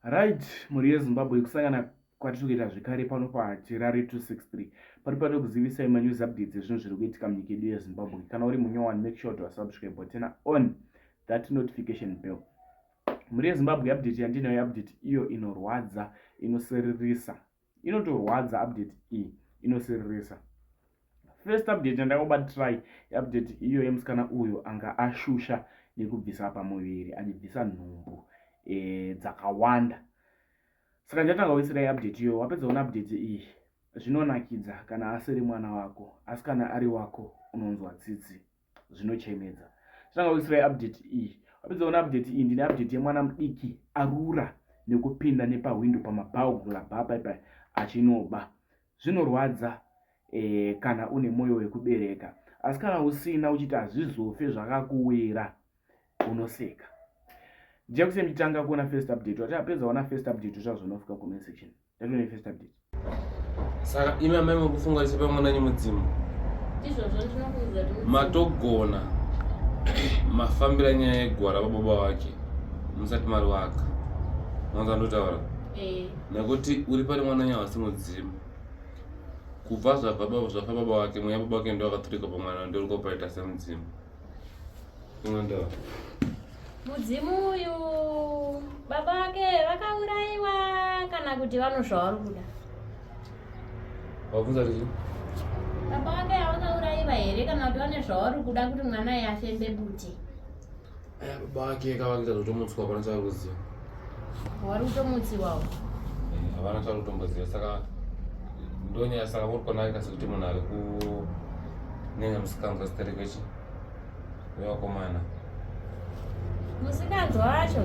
Right, mhuri yeZimbabwe kusangana kwatiri kuita zvekare pano paHerare 263 pari pano kuzivisai manews updates ezvinhu zviri kuitika munyika yedu yeZimbabwe. Kana uri munyowani, make sure to subscribe but turn on that notification bell. Mhuri yeZimbabwe update yandinayo update iyo inorwadza, inosiririsa inotorwadza update iyi inosiririsa first update yandakoba try update iyo yemusikana uyo anga ashusha nekubvisa pamuviri achibvisa nhumbu e, dzakawanda saka ndatanga kuisira iupdate iyo wapedza kuona update iyi zvinonakidza kana asiri mwana wako asi kana ari wako unonzwa tsitsi zvinochemedza chinanga kuisira update iyi wapedza kuona update iyi ndine update yemwana mudiki arura nekupinda nepahwindo pamabhaugula bhapa ipa achinoba zvinorwadza eh, kana une mwoyo wekubereka asi kana usina uchiti hazvizofe zvakakuwira unoseka jakusemtanga kuona first update wati apedza ona first update zvazvonofika comment section ndatone first update saka imi amai mukufunga isepa mwananyi mudzimu matogona mafambira nyaya yegwara vababa wake musati mari waka mwanza ndotaura eh. nekuti uri pari mwananyi hawasi mudzimu kubva zvabva baba wake mweya baba wake ndo akaturika pamwana ndoriko paita semudzimu Mwandawa. Mudzimu uyu baba vake vakauraiwa kana kuti vano zvavari kuda. Wabvunza kuti baba vake vakauraiwa here kana kuti vane zvavari kuda kuti mwana yafembe bute. Baba vake kavakuita zvotomutswa pana charuziva. Wari kutomutsiwawo. Eh, havana chavari kutomboziva saka ndonyaya saka muri kunaka sekuti munhu ari kunyanya musikanzwa zita rekwechi wevakomana musikanzwa wacho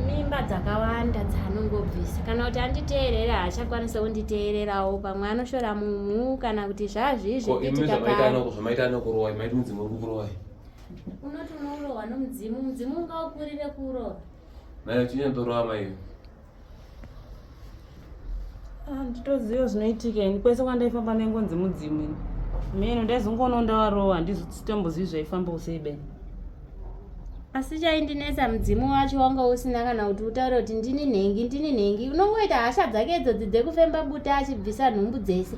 mimba dzakawanda dzaanongobvisa kana kuti anditeerere haachakwanisa kunditeererawo pamwe anoshora mumhu kana kuti zvazviizvimaitanekurowa maiti mudzimu uri kukurowa unoti unourowa nomudzimu mudzimu ungaukurire kurowa Nayo chinyandorova maiyo. Ah, nditoziva zvinoitika ini kwese kwandaifamba nengonzi mudzimu ini meno ndaizongoona ndavarova handizvitombozivi zvaifamba usei beni asi chaindinetsa mudzimu wacho wanga usina kana kuti utaure kuti ndini nhengi ndini nhengi unongoita hasha dzake idzodzi dzekufemba buta achibvisa nhumbu dzese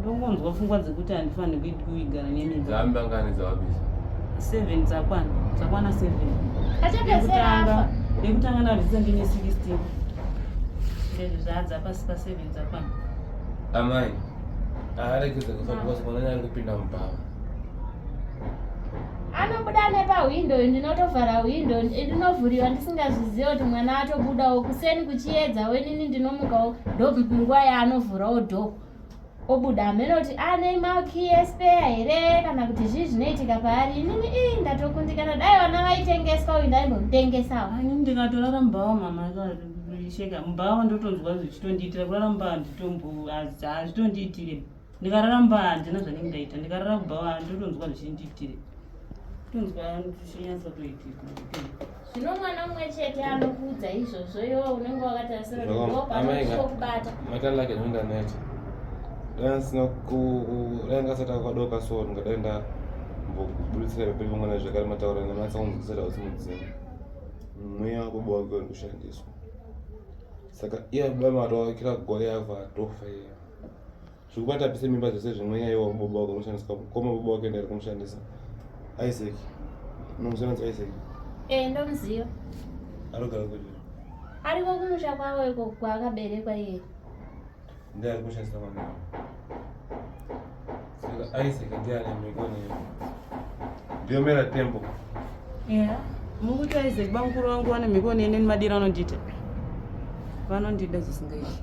ndongonzwa pfungwa dzekuti handifanire kuitwa kuigara nemimba dzambangani dzawabisa seven dzakwana dzakwana seven achapedzeraafa nekutanga ndabvisa ndine sixteen zvinhu zvaadza pasi paseven dzakwana amai arekeza kusakuvasikwanani ari kupinda mubhava anobuda nepahwindo ndinotovhara hwindo ndinovhuriwa ndisingazvizive kuti mwana atobudawo kuseni kuchiyedza wenini ndinomukawo ndonguva yaanovhurawo dhoo obuda hameno kuti ane ah, malki yespeya here kana kuti zvii zvinoitika paari inini ii ndatokundikana dai vana vaitengeswa uyu ndaimbomutengesawo ani ndikatorara mubhawa mama sheka mubhawa ndotonzwa zvichitondiitira kurara mubhawa handitombo hazvitondiitire ndikarara mubhawa handina zvanenge ndaita ndikarara mubhawa ndotonzwa zvichindiitire tonzwa zvichinyatsotoitika zvino mwana mumwe chete anokuudza izvozvo iwo unenge wakatarisira ndopaanochokubata maita lake zvinondaneta dai sina dai ngasati akadoka so ndingadai ndambokuburitsira peperi pemwana zvekare mataura nemanisa kunzwisira usi mudzimu mweya wako bowa kweuri kushandiswa saka iya baba matowakira goya yava tofa iya zvekubata pise mimba zvese zvimwe nyaya iwa kubaba wake unoshandisa kukoma baba wake ndari kumushandisa isaac unomushandisa isaac ee eh, ndomuziva anogara kupi ariko kumusha kwavo iko kwaakaberekwa iye ndiye ari kushandisa mwana saka isaac ndiye ane mikoni ndiyo mera tembo yeah mukuti isaac bamukuru vangu vane mhiko nene nemadiro anondita vanondida zvisingaiti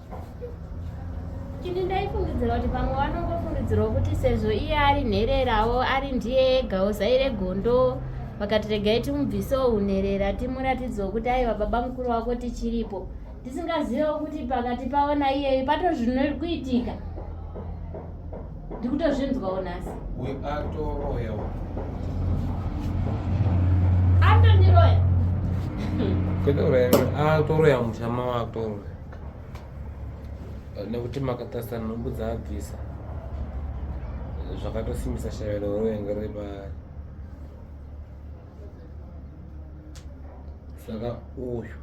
chiti ndaifungidzira kuti pamwe vanongofungidzirwa kuti sezvo iye ari nhererawo ari ndiye ega uzaire gondo vakati regai timubvise unherera timuratidzewo kuti aiva baba mukuru wako tichiripo tisingazivewo kuti pakati pavo naiyeyo pato zvinori kuitika ndikutozvinzwawo nhasi atoniroya ah, toroya mushama wakutoroya nekuti makatarisa nhumbu dzaabvisa zvakatosimbisa shavelo roenga riri paari saka uyu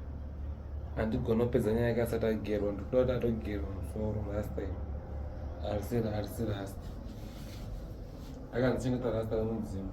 handigona kupedza nyaya yake asati agerwa ndikuda kuti atogerwa musoro last time arisi arisi rasta akanzi chengeta rasta remudzimu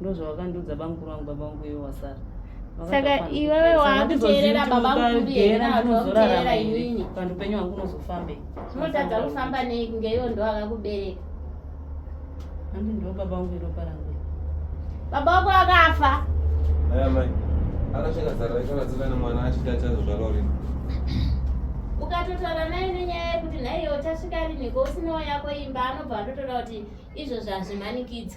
ndozvavakandiudza bamukuru vangu baba vangu iwe wasara saka iwewe waakuteerera baba mukuru yena anozoteerera inini vantu upenyu wangu unozofambei unotadza kufamba nei kunge iwo ndo akakubereka handi ndo baba vangu iropa rangu baba wako akafa aya mai akasvika zara raikavadzika nemwana achiti achazozvarwa rini ukatotaura naye nenyaya yekuti nhaiyo uchasvika riniko usinawo yako imba anobva atotora kuti izvozvo hazvimanikidza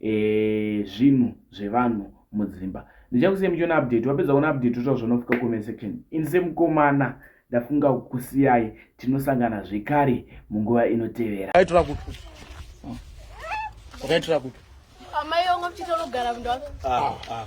e, zvinhu zvevanhu mudzimba ndichakusiyai muchiona update wapedza kuona update uta zvanofika comment section in semukomana ndafunga kukusiyai tinosangana zvekare munguva inotevera aitora kupi wakaitora kupi amai yongo mchitonogara mndu wako ah, ah.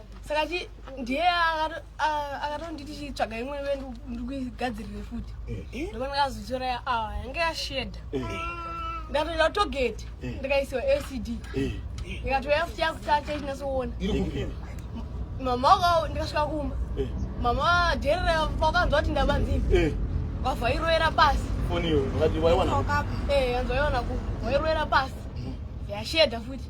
saka chi ndiye akatonditi chitsvaga imwe ive ndikuigadzirire futi eh, eh. ndikona kazotora awa ah, yange yashedha eh. ndatoita togeti ndikaisiwa lcd ndikatoya futi yakutata ichinyasoona mama waka ndikasvika kumba mama dherera vakanzwa kuti ndabanzii vavairoera pasi yanzwa yona ku vairoera pasi mm. yashedha futi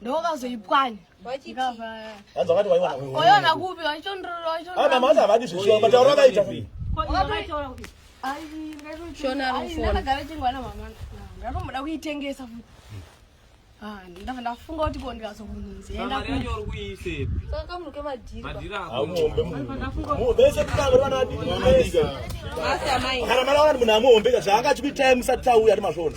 ndokazoipwanya oyona kupi vachitondoroamamasa havadi zveshuwa matauro akaita ndanomuda kuitengesa futi ah, ndava ndafunga kuti ko ndikazokunuziendakuombe kutangoranaamai kana mwana wanani munhu amuombeka zvaanga achikuitai musati tauya ari masvona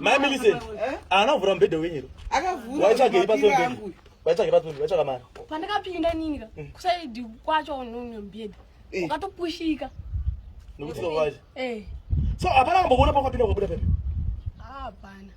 Mai Millicent, ana vura mbede wenyu. Akavura. Wachake ipa sonde. Wachake ipa sonde, wachaka mara. Pandaka pinda nini ka? Mm. Kusaidi kwacho unonyo mbede. Eh. Ukatopushika. Nokuti kwaje. Eh. So apana kumboona pa kwapinda kwabuda pepe. Hapana.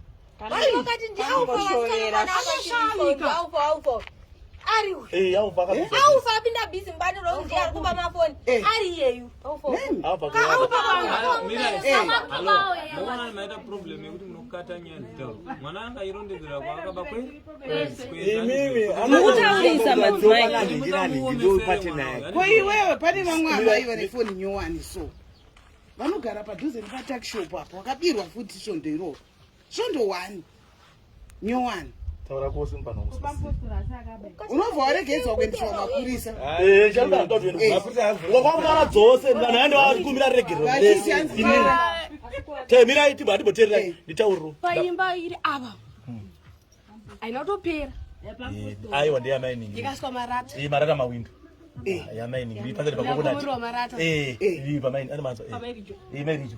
mukutaurisa madzimaiiwewe pane vamwe amai vane foni nyowani so vanogara padhuze nepatakishop apo vakabirwa futi svondo iroro svondo one nyowani taura kose unobva waregedzwa kuendeswa kumapurisa wakwakunara dzose vanhu aende vakumbira regerero temirai tibva atibotererai nditauriro paimba iri ava haina kutopera aiwa ndeyamainingi ikaswa marata iyi marata mawindo yamainingi pasati pakokonati iyi pamaini ari manzwa iyi mairijo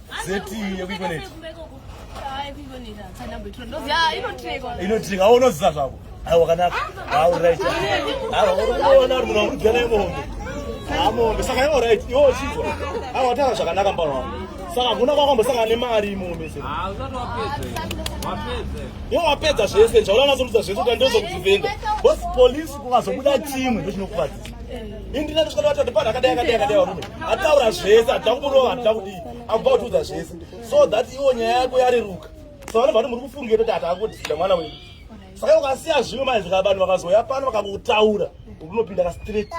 zeti yekuikonekta inotrika awo unoziva zvako aiwa kanaka auright aiwa urikuona uri munhu urigana imombe amombe saka iwo right iwo uchinzwa aiwa watanga zvakanaka mbaro wako saka hakuna kwakwambosangana nemari imombe se iwo wapedza zvese njaula nazoudza zvese kuti ndozokuzivenda bos polisi kukazobuda chimwe ndochinokuvazi indina ndisvika ndati ndipana akadai akadai akadai varume ataura zvese atida kumurova atida kudii akuba kutiudza zvese so that iwo nyaya yako yareruka so vanhu vati muri kufungira kuti hati akudisira mwana wedu saka ukasiya zvimwe manje zvika vanhu vakazoya pano vakakutaura unopinda ka straight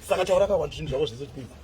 saka taura kakwa zvinhu zvako zvese zvipinza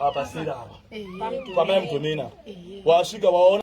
apa sera apa pamai mdomina wasvika waona